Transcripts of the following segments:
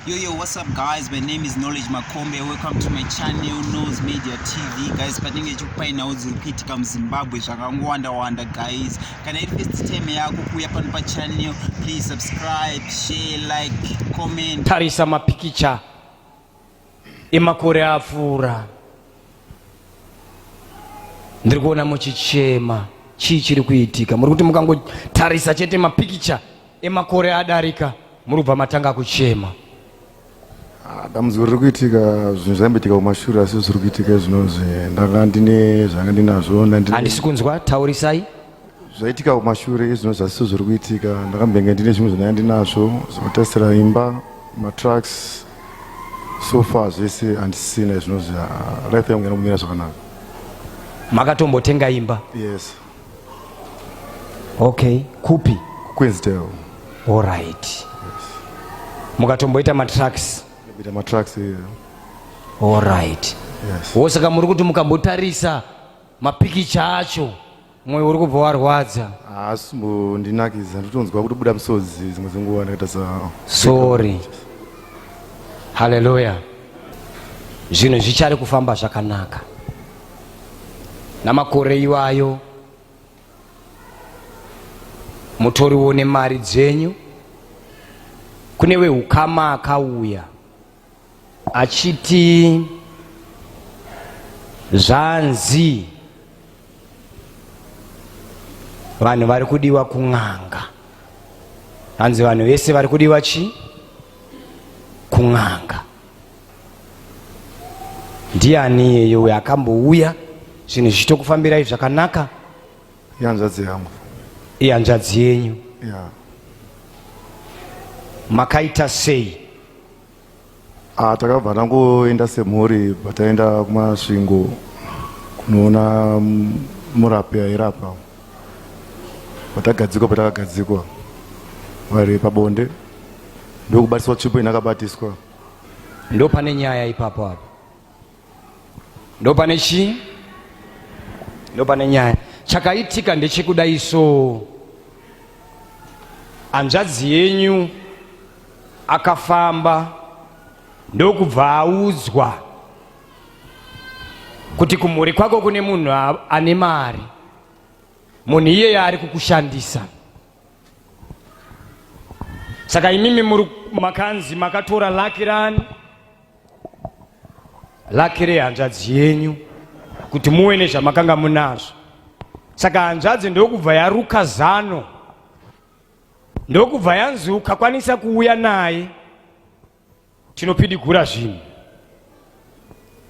Yo, yo, what's up guys? My name is Knowledge Makombe. Welcome to my channel, Nose Media TV. Guys, patinenge chikupainawo dziri kuitika muZimbabwe zvakangowanda-wanda guys. Kana iri first time yako kuuya pano pachannel, please subscribe, share, like, comment. Tarisa mapikicha emakore apfuura. ndiri kuona muchichema chii chiri kuitika muri kuti mukangotarisa chete mapikicha emakore adarika muri kubva matanga kuchema ah, dambudziko riri kuitika zvinhu zvaimboitika kumashure asi zviri kuitika izvinozvi ndanga ndine zvanga ndinazvo handisi kunzwa taurisai zvaitika kumashure izvino zvasiso zviri kuitika ndakambenge ndine zvimwe zvinaya ndinazvo zvinotarisira imba matracks so far zvese handisina izvino zva life yangu yana kumira zvakanaka makatombotenga imba yes okay kupi kuqueensdale all right yes. mukatomboita matracks ita matracks yeah. all right yes. wosaka muri kuti mukambotarisa mapikicha acho moyo uri kubva warwadza haasi mbondinakidza ndotonzwa kutobuda misodzi dzimwe dzenguva ndakaita sa sorry haleluya zvinhu zvichari kufamba zvakanaka namakore iwayo mutoriwo nemari dzenyu kune weukama akauya achiti zvanzi vanhu vari kudiwa kun'anga hanzi vanhu vese vari kudiwa chi kun'anga ndiani iyeyo uyo akambouya zvinhu zvichitokufambirai zvakanaka ihanzvadzi yangu ihanzvadzi yenyu yeah. makaita sei Ah, takabva tangoenda semhuri pataenda kumasvingo kunoona murapi airapa patagadzikwa patakagadzikwa vari pabonde ndokubatiswa tsvipo inakabatiswa ndo pane nyaya ipapo apo ndopane chii ndopane nyaya chakaitika ndechekudai so hanzvadzi yenyu akafamba ndokubva audzwa kuti kumhuri kwako kune munhu ane mari munhu iyeye ari kukushandisa saka imimi makanzi makatora laki rani laki rehanzvadzi yenyu kuti muve nezvamakanga munazvo saka hanzvadzi ndokubva yaruka zano ndokubva yanzi ukakwanisa kuuya naye tinopidigura zvinhu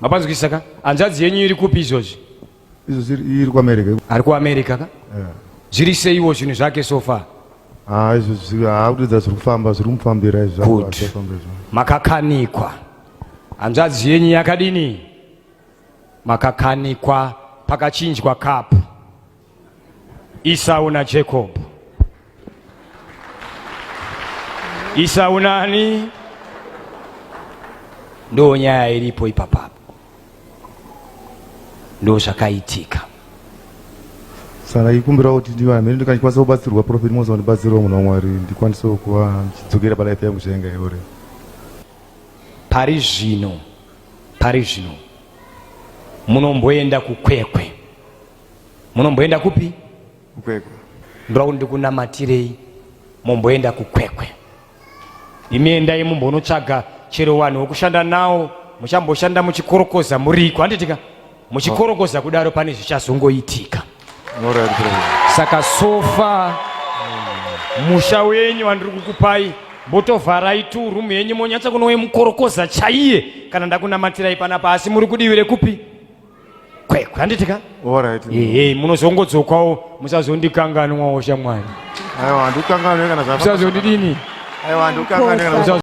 mapanzwisaka hanzvadzi yenyu iri kupi izvozvi Izo ziri iri kuAmerica. Ari kuAmerica ka? Yeah. Zviri seiwo zvinhu zvake so far. Ah, izvo zviri haakudidza zviri kufamba zviri kumufambira izvo. Good. Makakanikwa. Hanzvadzi yenyu yakadini? Makakanikwa pakachinjwa kapu. Isau naJacob. Isa unani ndo nyaya iripo ipapa ndo zvakaitika saka ikumbirawo kuti ndiva mhene ndikakwanisa kubatsirwa profeti mose wandibatsirawo munhu wamwari ndikwanisewo kuva ndichidzokera palife yangu zvainga yore pari zvino pari zvino munomboenda kukwekwe munomboenda kupi Kwekwe. Ndoda kuti ndikunamatirei momboenda kukwekwe. Imi endai mumbonotsvaga chero vanhu vokushanda nawo muchamboshanda muchikorokoza muriko handitika muchikorokoza kudaro pane zvichazongoitika saka sofa musha wenyu wandiri kukupai mbotovharai tu rumu yenyu monyatsa kunowe mukorokoza chaiye kana ndakunamatirai panapa asi muri kudivi rekupi kwekwe handiti ka Alright. ehe munozongodzokawo musazondikanganwawo shamwari Aiwa, handikanganwe kana zvafamba. musazondidini Aiwa, handikanganwe kana Musa-